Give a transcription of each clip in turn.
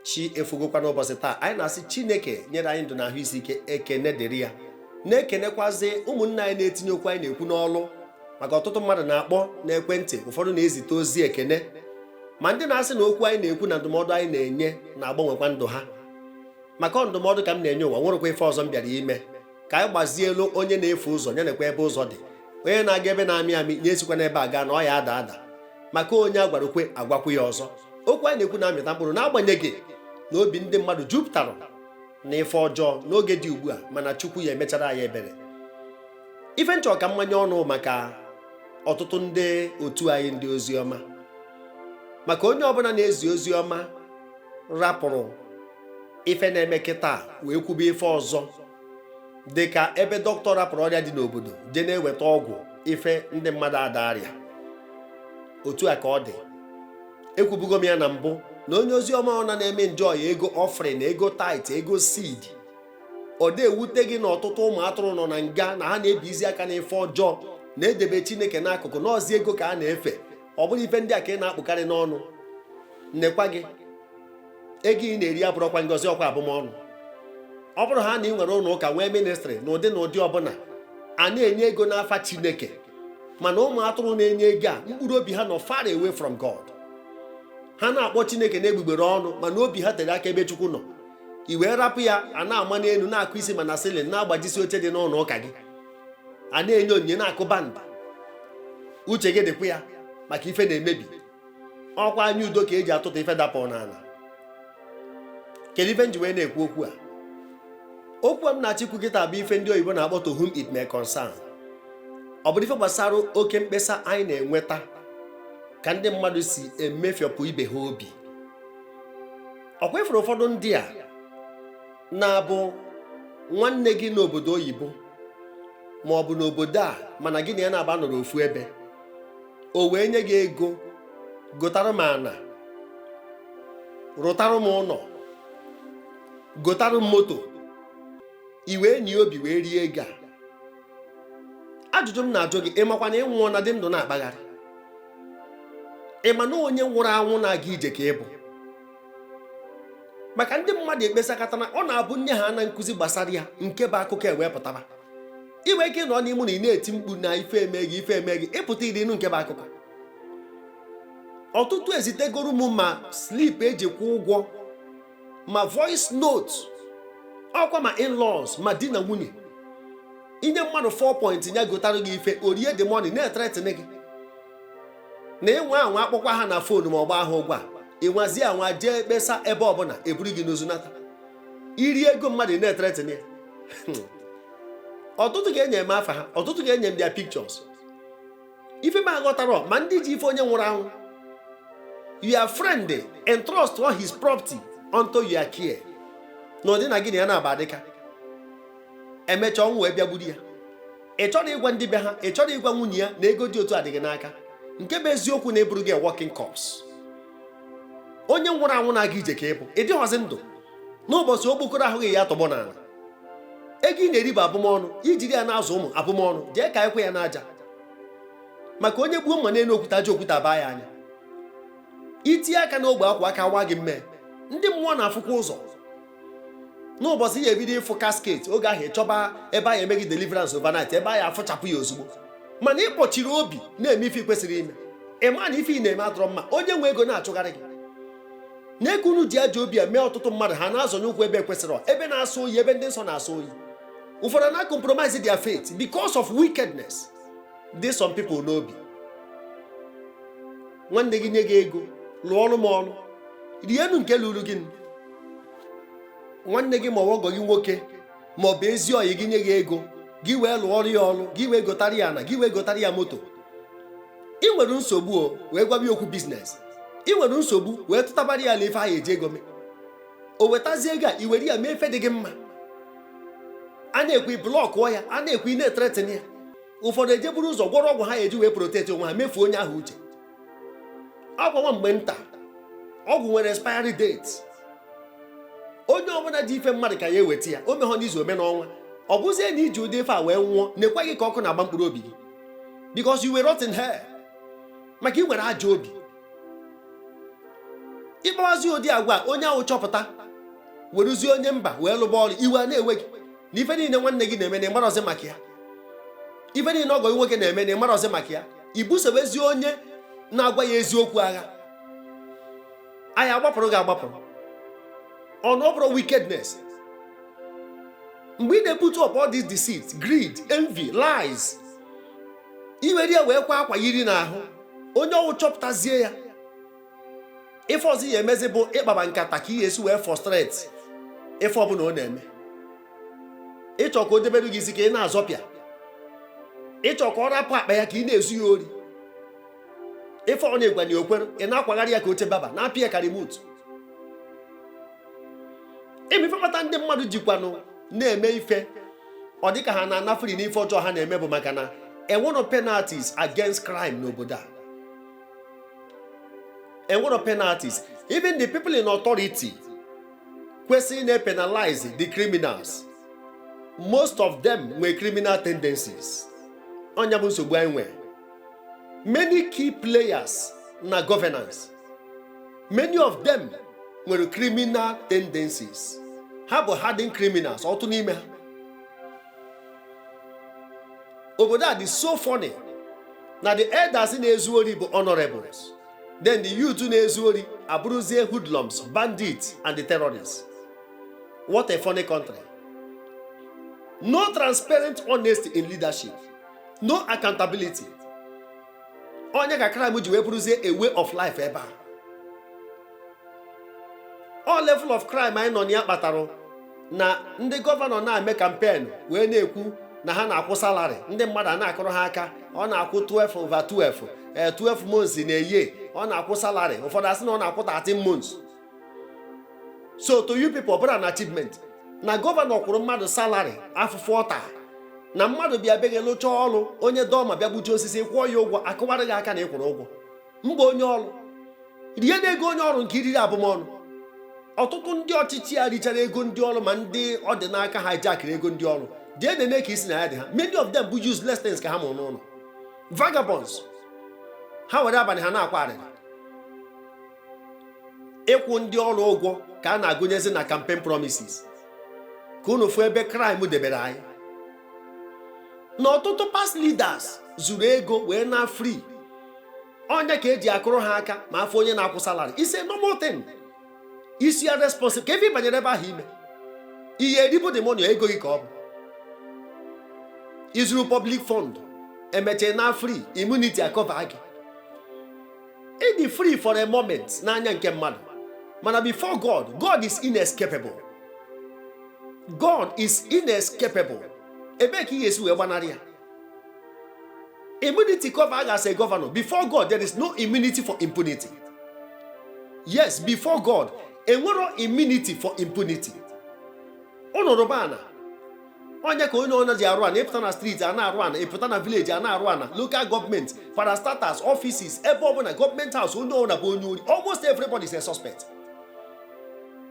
chi efogokwa n'ụbọchị taa anyị na-asị chineke nyere anyị ndụ na ahụ isi ike ekene dịrị ya na-ekenekwazi ụmụnne anyị na-etinye okwu anyị na-ekwu n'ọlụ maka ọtụtụ mmadụ na-akpọ n'ekwentị ụfọdụ na-ezite ozi ekene ma ndị na-asị na okwu anyị na-ekwu na ndụmọdụ anyị na-enye na-agbanwekwa ndụ ha maka ọ ndụmọdụ ka m na-enye ụwa nwerekwa ife ọzọ m bịara ime ka anyị gbazielu onye na-efu ụzọ ya nekwa ebe ụzọ dị onye na-aga ebe na-amị amị ya esikwa n'ebe a gaa na ọ ya ada ada maka onye a gwara o kwe a gwakwu ya ọzọ okwu anyị na-ekwu na-amịta mkpụrụ n'agbanyeghị na obi ndị mmadụ jupụtara na ife ọjọọ n'oge dị ugbu a mana Chukwu ya emechara anyị ebere ife nchọ ka m manye ọnụ maka ọtụtụ ndị otu anyị ndị ozi ọma maka onye ọbụla na-ezi ozi ọma rapụrụ ife na-eme kịta wee kwube ife ọzọ dị ka ebe doctor rapụrụ ọrịa dị n'obodo je na-eweta ọgwụ ife ndị mmadụ ada arịa otu a ka ọ dị ekwubugo m ya na mbụ na onye ozi ọma ọ na na-eme njọ ya ego offering ego tithe ego seed ọ da ewute gị na ọtụtụ ụmụ atụrụ nọ na nga na ha na-ebizi aka n'ife ọjọọ na-edebe chineke n'akụkụ n'ọzi ego ka ha na-efe ọ bụrụ ife ndị a ka ị na-akpụkarị n'ọnụ nnekwa gị ego ị na-eri abụrọkwa ngọzi ọkwa abụmọnụ ọ bụrụ ha na ị nwere ụlọ ụka nwee ministry n'ụdị n'ụdị ọbụla a na-enye ego n'afa Chineke mana ụmụ atụrụ na-enye ego a mkpụrụ obi ha nọ far away from God ha na-akpọ Chineke n'egbugbere ọnụ mana obi ha tere aka ebe Chukwu nọ i wee rapụ ya a na-ama n'elu na-akụ isi ma na ceiling na-agbajisi oche dị n'ụlọ ụka gị a na-enye onyinye na-akụ band uche gị dịkwa ya maka ife na-emebi ọkwa anya udo ka eji atụta ife dapụ n'ala kedu ife nji wee na-ekwu okwu a okwu a m na-achọ ikwu kịta bụ ife ndị oyibo na-akpọ to whom it may concern ọ bụrụ ife gbasara oke mkpesa anyị na-enweta ka ndị mmadụ si emefiọpụ ibe ha obi ọkwa ị fụrụ ụfọdụ ndị a na-abụ nwanne gị n'obodo oyibo ma ọ bụ n'obodo a mana gị na ya naabọ anọrọ ofu ebe o wee nye gị ego gotara m ana rụtara m ụlọ gotara m moto i wee nye obi wee rie ego a ajụjụ m na-ajụ gị ị makwa na ị nwụọna dị ndụ na-akpagharị ị ma na onye nwụrụ anwụ na-aga ije ka ị bụ maka ndị mmadụ ekpesakatara ọ na-abụ nye ha na nkuzi gbasara ya nke bụ akụkọ ewee pụtaba i nwee ike ịnọ n'ime ụnọ ị na-eti mkpu na ife eme gị ife eme gị ị pụta iro ị nụ nke bụ akụkọ ọtụtụ ezitegoro m ma slip eji kwụ ụgwọ ma voice note ọkwa ma in-laws ma di na nwunye i nye mmadụ 4 point ya gotara gị ife o rie the money na-ethreaten gị na ịnwa anwa akpọkwa ha na phone ma ọgba ahụ ụgwọ a ịnwazi anwa jee kpesa ebe ọbụla eburu gị n'ozu nata iri ego mmadụ na-etretin ya ọtụtụ ga-enye m afa ha ọtụtụ ga-enye m their pictures ife m aghọtarọ ma ndị ji ife onye nwụrụ anwụ your friend entrust all his property unto your care n'ụdị na gị na ya na-aba dịka emecha ọnwụ wee bịa gburu ya ị chọrọ ịgwa ndị be ha ị chọrọ ịgwa nwunye ya na ego dị otu a dị gị n'aka nke bụ eziokwu na ị bụrụgo walking corpse onye nwụrụ anwụ na-aga ije ka ị bụ ị dịghọzi ndụ n'ụbọchị okpokoro ahụ gị ya tọgbọ n'ala ego ị na-eri bụ abụmọnụ i jiri ya na-azụ ụmụ abụmọnụ jee ka ekwe ya n'aja maka onye gbuo mma n'elu okwute aja okwute abaa ya anya itinye aka n'ogbe akwa aka wa gị mmee ndị mmụọ na-afụkwa ụzọ n'ụbọchị ị ya ebido ịfụ casket oge ahụ ị chọba ebe a ya eme gị deliverance overnight ebe a ya afụchapụ ya ozugbo mana ị kpọchiri obi na-eme ife ị kwesịrị ime ị ma na ife ị na-eme adọrọ mma onye nwe ego na-achụgharị gị nee ka unu ji ajọ obi mee ọtụtụ mmadụ ha na-azọnye ụkwụ ebe kwesịrị ebe na-asọ oyi ebe ndị nsọ na-asọ oyi ụfọdụ na compromise their faith because of wickedness dị some people n'obi nwanne gị nye gị ego lụọrọ m ọrụ rienu nke luuru gị nwanne gị ma ọ ọgọ gị nwoke ma ọ bụ ezi ọyị gị nye gị ego gị wee lụọrọ ya ọrụ gị wee gotara ya ana gị wee gotara ya moto ị nwere nsogbu o wee gwaba ya okwu business ị nwere nsogbu wee tụtabara ya alo ife ahụ eji ego mee o wetazie ego a i were ya mee ife dị gị mma a na-ekwu i blọkụọ ya a na-ekwu ị na-etretin ya ụfọdụ ejee buru ụzọ gwọrọ ọgwụ ha eji wee protect onwe ha mefuo onye ahụ uche ọgwụ nwa mgbe nta ọgwụ nwere expiry date onye ọbụla ji ife mmadụ ka ya eweta ya o mehọ n'izu o mee n'ọnwa ọ bụzie na i ji ụdị ife a wee nwụọ neekwa gị ka ọkụ na-agba mkpụrụ obi gị because you will rot in hell maka ị nwere ajọ obi ị kpawazi ụdị agwa onye ahụ chọpụta weruzie onye mba wee lụba ọrụ iwe a na-ewe gị na ife niile nwanne gị na-eme na ịmarọzi maka ya ife niile ọgọ gị nwoke na-eme na ịmarọzi maka ya i busobezi onye na-agwa ya eziokwu agha anyị agbapụrụ gị agbapụrụ ọnụ ọ bụrụ wickedness mgbe ị na-eput up all this deceit greed envy lies i were ya wee kwa akwa yiri n'ahụ onye ọ wụ chọpụtazie ya ife ọzọ ị ya-emezi bụ ịkpaba nkata ka ị ya-esi wee frustrate ife ọbụla ọ na-eme ị chọ ka o debere gị isi ka ị na-azọpịa ị chọ ka ọ rapụ akpa ya ka ị na-ezu ya ori ife ọna ị gwa ya o kwere ị na-akwagharị ya ka oche baba na-apịa ya ka remote ife kpata ndị mmadụ jikwanụ na-eme ife ọ dịka ha na-anafere n'ife ọjọọ ha na-eme bụ maka na enwero penalties against crime n'obodo a enwero penalties even the people in authority kwesịrị ịna-penalize the criminals most of them nwere criminal tendencies ọ nya bụ nsogbu anyị nwere many key players na governance many of them nwere criminal tendencies ha bụ hardened criminals ọtụtụ n'ime ha obodo a dị so funny na the elders na-ezu ori bụ honorables then the youth na-ezu ori abụrụzie hoodlums bandits and the terrorists what a funny country no transparent honesty in leadership no accountability ọ nya ka crime ji wee bụrụzie a way of life ebe a ọ level of crime anyị nọ na ya kpatara na ndị gọvanọ na-eme campaign wee na-ekwu na ha na-akwụ salary ndị mmadụ a na-akụrụ ha aka ọ na-akwụ 12 over 12 ee 12 months na year ọ na-akwụ salary ụfọdụ asị na ọ na-akwụ 13 months so to you people ọ bụrụ an achievement na gọvanọ kwụrụ mmadụ salary afụfụ ọ ta na mmadụ bịa be gị lụcha ọrụ onye dọma bịa gbuji osisi kwụọ ya ụgwọ a kụwara gị aka na ị kwụrụ ụgwọ mgbe onye ọrụ rie n'ego onye ọrụ nke i riri abụmọnụ ọtụtụ ndị ọchịchị a richara ego ndị ọrụ ma ndị ọ dị n'aka hijackịrị ego ndị ọrụ jee nene ka isi na ya dị ha many of them bụ useless things ka ha mụrụ n'ụnọ vagabonds ha were abanị ha na-akwa arịrị ịkwụ ndị ọrụ ụgwọ ka a na-agụnyezi na campaign promises ka unu fụ ebe crime debere anyị na ọtụtụ past leaders zuru ego wee naa free ọ nya ka e ji akụrụ ha aka ma a fụ onye na-akwụ salary is a normal thing isi ya responsible ka ife ị banyere ebe ahụ ime ị ya-eribu the money ego gị ka ọ bụ i zuru public fund emecha ị naa free immunity a-cover gị ị dị free for a moment n'anya nke mmadụ mana before God God is inescapable God is inescapable ebee ka ị ya-esi wee gbanarị ya immunity cover a gị as a governor before God there is no immunity for impunity yes before God enwero immunity for impunity unu rụba ana onye ka onye ọna ji arụ ana ị pụta na street a na-arụ ana ị pụta na village a na-arụ ana local government parastatals offices ebe ọbụna government house onye ọna bụ onye ori almost everybody is a suspect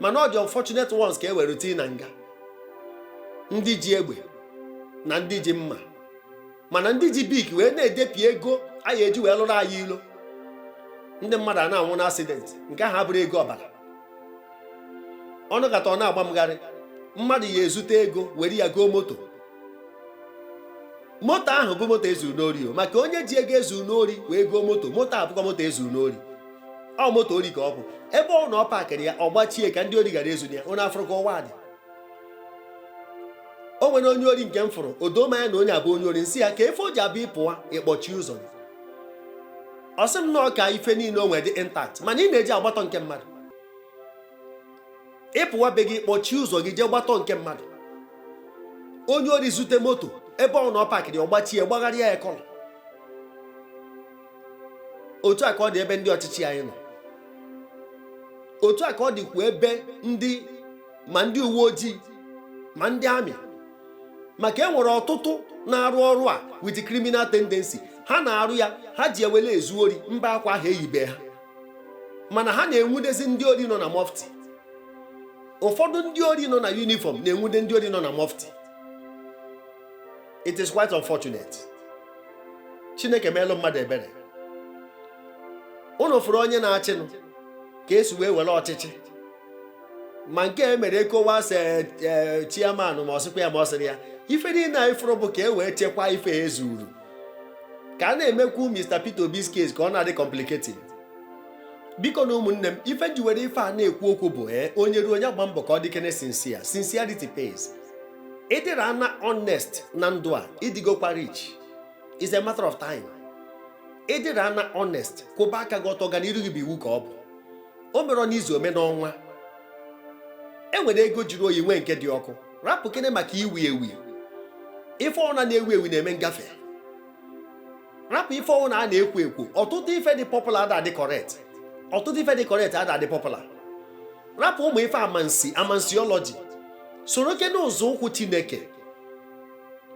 mana ọ the unfortunate ones ka e were tii na nga ndị ji egbe na ndị ji mma mana ndị ji Bic wee na-edepi ego a ya-eji wee lụrụ anyị ilo ndị mmadụ ana-anwụ na accident nke ahụ abụrụ ego ọbara ọ nọkata ọ na-agba m gharịị mmadụ ya ezute ego were ya goo moto moto ahụ bụ moto e zuru n'ori maka onye ji ego e zuru n'ori wee goo moto moto ahụ bụkwa moto e zuru n'ori ọ moto ori ka ọ bụ ebe ọna ọ pakịrị ya ọ gbachie ka ndị ori ghara ezu ya unu afụrụ ka ụwa dị o nwere onye ori nke m fụrụ o doo m anya na onye a bụ onye ori m sị ya kee ife o ji abụ ị pụwa ị kpọchie ụzọ ọ sị m na ọ ka ife niile o nwere dị intact mana ị na-eje agbatọ nke mmadụ ị pụwa be gị ị kpọchie ụzọ gị jee gbatọ nke mmadụ onye ori zute moto ebe ọna ọ pakịrị ọ gbachie gbagharịa ya colour otu a ka ọ dị ebe ndị ọchịchị anyị nọ otu a ka ọ dịkwa ebe ndị ma ndị uwe ojii ma ndị army maka e nwere ọtụtụ na-arụ ọrụ a with criminal tendency ha na-arụ ya ha ji ya wee na-ezu ori mba akwa ahụ e yibe ha mana ha na-enwudezi ndị ori nọ na mufti ụfọdụ ndị ori nọ na uniform na-enwude ndị ori nọ na mufti it is quite unfortunate chineke meelụ mmadụ ebere unu fụrụ onye na-achịnụ ka e si wee were ọchịchị ma nke e mere ECOWAS e, chairman ma ọ sịkwa ya ma ọ sịrị ya ife niile anyị fụrụ bụ ka e wee chekwaa ife e zuru ka a na-emekwu Mr. Peter Obi's case ka ọ na-adị complicated bikonụ ụmụnne m ife m ji were ife a na-ekwu okwu bụ ee eh, onye ruo onye gbaa mbọ ka ọ dịkene sincere sincerity pays ị dịrị ana honest na ndụ a ị dịgokwa rich is a matter of time ị dịrị ana honest kwụba aka gị ọtọ ọganiru gị bụ iwu ka ọ bụ o merọ n'izu o mee n'ọnwa e nwere ego jiri oyi nwee nke dị ọkụ rapụkene maka iwi ewi ife ọna na-ewi ewi na-eme ngafe rapụ ife ọwụna a na-ekwo ekwo ọtụtụ ife dị popular ada adị correct ọtụtụ ife dị correct ada adị popular rapụ ụmụ ife amansi amansiọlọji sorokene ụzọ ụkwụ chineke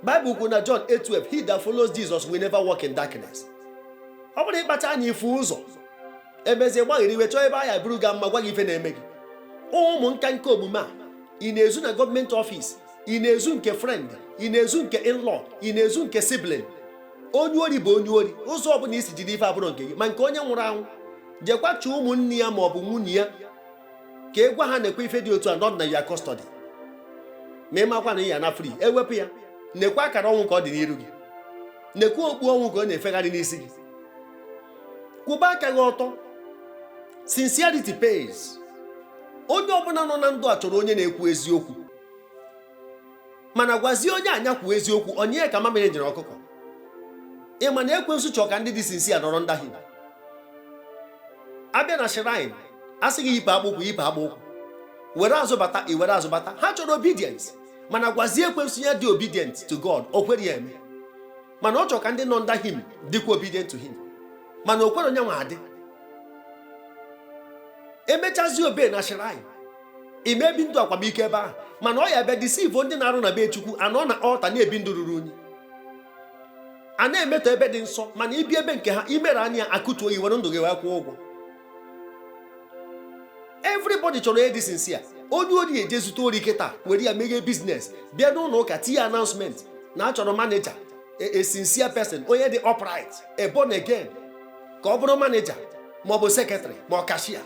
Bible kwuru na John 8:12 he that follows Jesus will never walk in darkness ọ bụrụ ị kpacha anya ifu ụzọ emezie gbaghịrị iwe chọọ ebe a ya-eburu ga mma gwa gị ife na-eme gị ụmụ nka nke omume a ị na-ezu na gọọmenti ọfịs ị na-ezu nke friend ị na-ezu nke in-law ị na-ezu nke sibling onye ori bụ onye ori ụzọ ọbụla i si jide ife abụrụ nke gị ma nke onye nwụrụ anwụ jekwa chọọ ụmụnne ya ma ọ bụ nwunye ya ka ị gwa ha nekwa ife dị otu a nọ na your custody ma ị makwa na ị ya na free ewepụ ya nekwa akara ọnwụ ka ọ dị n'iru gị nekwa okpu ọnwụ ka ọ na-efegharị n'isi gị kwụba aka gị ọtọ sincerity pays onye ọbụla nọ na ndụ a chọrọ onye na-ekwu eziokwu mana gwazie onye a nya kwuo eziokwu ọ nyị ya ka mamịrị nyịrị ọkụkọ ị ma na ekwensu chọọ ka ndị dị sincere nọrọ under him a bịa na shrine a sị gị yipụ akpụkwụ yipụ akpụkwụ were azụ bata i were azụ bata ha chọrọ obedience mana gwazie ekwensu ya dị obedient to God o kwere ya eme mana ọ chọrọ ka ndị nọ under him dịkwa obedient to him mana o kwero nya nwa adị emechazi obe na shrine ị ma ebi ndụ akwamiko ebe ahụ mana ọ ya bịa deceive ndị na-arụ na be chukwu a nọ na altar na-ebi ndụ ruru unyi a na-emetọ ebe dị nsọ mana ị bịa be nke ha imere anya a kụtuo gị i were ndụ gị wee kwụọ ụgwọ everybody chọrọ onye dị sincere onye ori eje zute ori kịta were ya meghee business bịa n'ụlọ ụka tinye announcement na a chọrọ manager a sincere person onye dị upright a born again ka ọ bụrụ manager ma ọ bụ secretary ma ọ cashier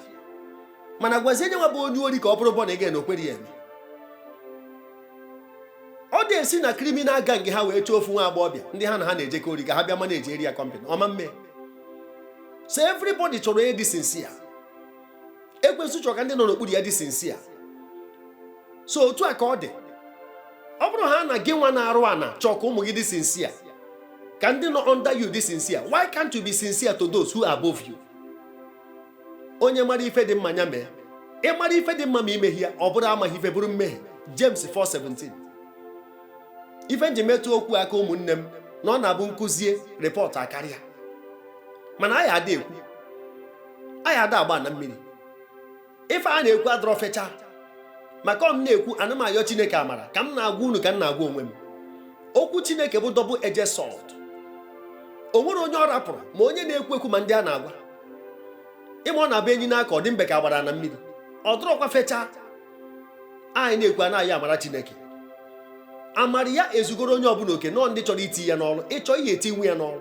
mana gwazie nya nwa bụ onye ori ka ọ bụrụ born again o kwere ya eme ọ da esi na criminal gang ha wee chọọ ofu nwa agbọghọbịa ndị ha na ha na-ejekọ ori ka ha bịa managiere ya company ọ ma mme so everybody chọrọ onye dị sincere ekwensu chọrọ ka ndị nọ n'okpuru ya dị sincere so otu a ka ọ dị ọ bụrụ ha na gị nwa na-arụ ana chọọ ka ụmụ gị dị sincere ka ndị nọ under you dị sincere why can't you be sincere to those who are above you onye mara ife dị mma ya mee ị mara ife dị mma ma i meghị ya ọ bụrụ amaghị ife bụrụ mmehie James 4:17 ife m ji metụ okwu aka ụmụnne m na ọ na-abụ m kuzie report akarịa mana anyị ada ekwu anyị ada agba na mmiri ife a na-ekwu adịrọ fecha maka ọ m na-ekwu ana m ayọ chineke amara ka m na-agwa unu ka m na-agwa onwe m okwu chineke bụ double edged sword o nwerọ onye ọ rapụrụ ma onye na-ekwu ekwu ma ndị a na-agwa ị ma ọ na-abụ enyi n'aka ọ dị mbe ka agbara na mmiri ọ dịrọkwa fecha anyị na-ekwu a na-ayọ amara chineke amara ya ezugoro onye ọbụla oke nọọ ndị chọrọ iti ya n'ọrụ ị chọọ ihe etinye ya n'ọrụ